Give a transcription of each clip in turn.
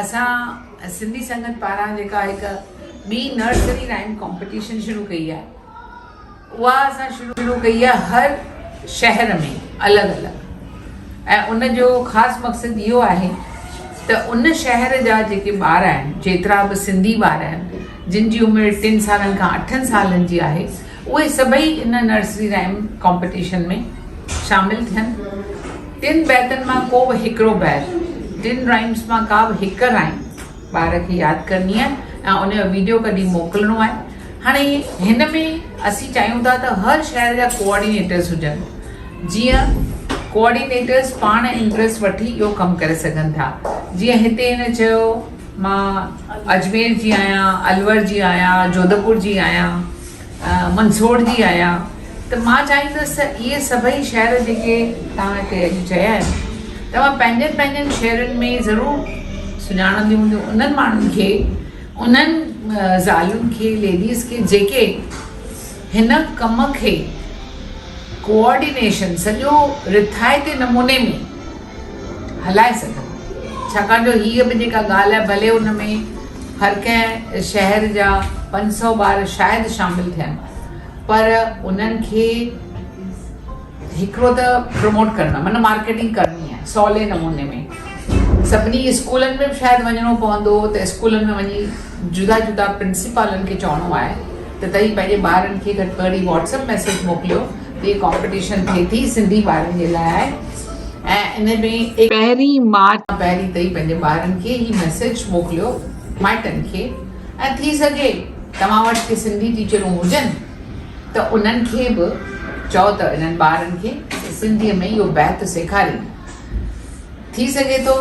اسان سنڌي سنگت پاران جيڪا هڪ ٻي نرسري رائيم ڪامپيٽيشن شروع ڪئي آهي اها اسان شروع ڪئي آهي هر شهر ۾ الڳ الڳ ۽ ان جو خاص مقصد اهو آهي ته ان شهر جا جيڪي ٻار آهن جيترا به سنڌي ٻار آهن جن جي عمر ٽن سالن کان اٺن سالن جي آهي اهي سڀئي ان نرسري رائيم ڪامپيٽيشن ۾ شامل ٿين ٽن بيتن مان ڪو به هڪڙو بيت، ٽن رائمز مان ڪا به هڪ رائم ٻار کي ياد ڪرڻي آهي ۽ ان جو ويڊيو ڪڍي موڪلڻو آهي. هاڻي هن ۾ اسين چاهيون ٿا ته هر شهر جا ڪوآرڊينيٽرز هجن جيئن ڪوآرڊينيٽرز پاڻ امپريس وٺي اهو ڪم ڪري سگهن ٿا. جيئن هتي هن چيو مان اجمير جي آهيان، الور جي آهيان، جوڌپور جي آهيان. منسوڙجي آيا ته مان چاهيندس ته اهي سڀئي شعر جيڪي توهان هتي اڄ چيا آهن توهان پنهنجن پنهنجن شعرن ۾ ضرور سڃاڻنديون هونديون انهن ماڻهن کي انهن زالين کي ليڊيز کي جيڪي هن ڪم کي ڪوآرڊينيشن سڄو رٿائتي نموني ۾ هلائي سگهن ڇاڪاڻ جو هيء به جيڪا ڳالهه آهي ڀلي ان ۾ هر ڪنهن شهر جا پنج سؤ ٻار شايد شامل ٿين پر انهن کي هڪڙو ته پروموٽ ڪرڻ معنيٰ مارڪيٽنگ ڪرڻي آهي سولي نموني ۾ سڀني اسڪولن ۾ به شايد وڃڻو پوندو ته اسڪولن ۾ وڃي جدا جدا پرنسپالن کي چوڻو آهي ته تئي پنهنجي ٻارن کي گهٽ ۾ گهٽ واٽسپ ميسج موڪليو ته هي ڪامپيٽيشن ٿئي ٿي سنڌي ٻارن جي لاء ۽ ان ۾ ايڪ پهرين مارچ کان پهرين تائين پنهنجي ٻارن کي هي ميسيج موڪليو مائٽن کي ۽ ٿي سگهي توهان وٽ ڪي سنڌي ٽيچرون هجن ته انهن کي به چئو ته انهن ٻارن کي سنڌي ۾ اهو بيت سيکارين ٿي سگهي ٿو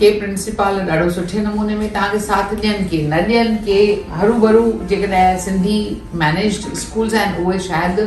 ڪي پرنسپال ڏاڍو سٺي نموني ۾ توهان کي ساٿ ڏين ڪي نه ڏين ڪي هروڀرو جيڪڏهن سنڌي مينيجڊ اسڪولز آهن اهي شايد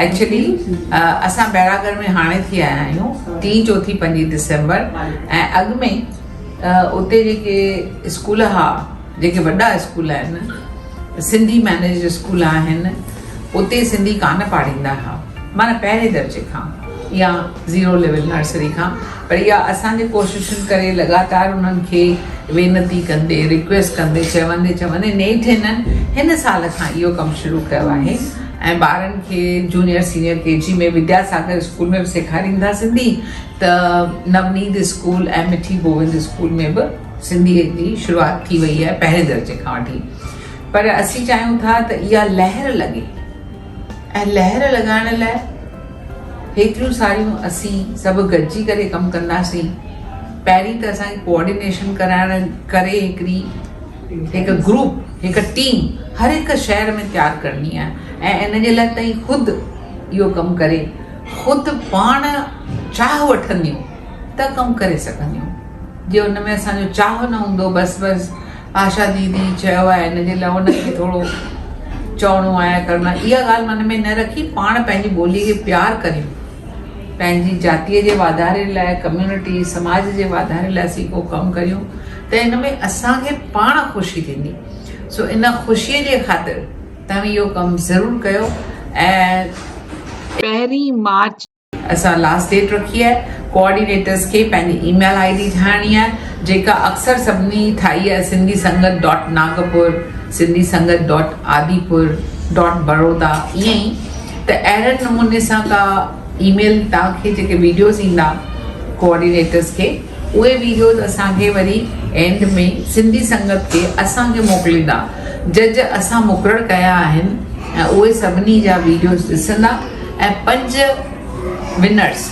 ايڪچلي اسان بيراگڙھ ۾ ھاڻي ٿي آيا آھيون ٽي چوٿي پنجي ڊسمبر ۽ اڳ ۾ اتي جيڪي اسڪول ھئا جيڪي وڏا اسڪول آھن سنڌي مينيجڊ اسڪول آھن اتي سنڌي ڪانه پاڙھيندا ھئا معنی پهرين درجي کان يا زيرو ليول نرسري کان پر اها اسانجي ڪوششن ڪري لڳاتار انهن کي وينتي ڪندي رڪويسٽ ڪندي چوندي چوندي نيٺ هنن هن سال کان اهو ڪم شروع ڪيو آهي ۽ ٻارن کي junior senior K G ۾ Vidya Sagar school ۾ به سيکاريندا سنڌي ته نونيد اسڪول ۽ مٺي گووند اسڪول ۾ به سنڌي جي شروعات ٿي وئي آهي پهرين درجي کان وٺي پر اسين چاهيون ٿا ته اها لهر لڳي ۽ لهر لڳائڻ لاء هيتريون ساريون اسين سڀ گڏجي ڪري ڪم ڪنداسين پهرين ته اسانکي ڪوآرڊينيشن ڪرائڻ ڪري هڪڙي هڪ گروپ هڪ ٽيم هر هڪ شهر ۾ تيار ڪرڻي آهي ۽ ان جي لاء تئين خود اهو ڪم ڪري خود پاڻ چاهه وٺنديون ته ڪم ڪري سگهنديون جي ان ۾ اسانجو چاهه نه هوندو بس بس آشا ديدي چيو آهي ان جي لاء ان کي ٿورو چوڻو آهي ڪرڻو آهي اها ڳالهه من ۾ نه رکي پاڻ پنهنجي ٻولي کي پيار ڪريون پنهنجي جاتيء جي واڌاري لاء، ڪميونٽي، سماج جي واڌاري لاء اسين ڪو ڪم ڪريون ته ان ۾ اسان کي پاڻ خوشي ٿيندي سو ان خوشيء جي خاطر توهين اهو ڪم ضرور ڪيو ۽ پهرين مارچ اسان لاسٽ ڊيٽ رکي آهي ڪوآرڊينيٽرس کي پنهنجي اي ميل آئي ڊي ٺاهڻي آهي جيڪا اڪثر سڀني ٺاهي آهي Sindhi Sangat dot Nagpur Sindhi Sangat dot Adipur dot Baroda ائين ئي ته اهڙن نموني سان ڪا اي ميل توهان کي جيڪي ويڊيوز ايندا ڪوآرڊينيٽرز کي اهي ويڊيوز اسان کي وري اينڊ ۾ سنڌي سنگت کي اسان کي موڪليندا جج اسان مقرر ڪيا آهن ۽ اهي سڀني جا ويڊيوز ڏسندا ۽ پنج ونرز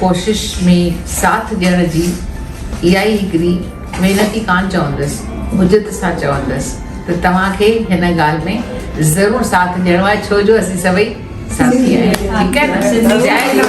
ڪوشش ۾ ساٿ ڏيڻ جي اها ئي هڪڙي وينتي ڪانه چوندس، عجت سان چوندس ته توهان کي هن ڳالهه ۾ ضرور ساٿ ڏيڻو آهي ڇو جو اسين سڀئي ساٿي آهيون ٺيڪ آهي نه.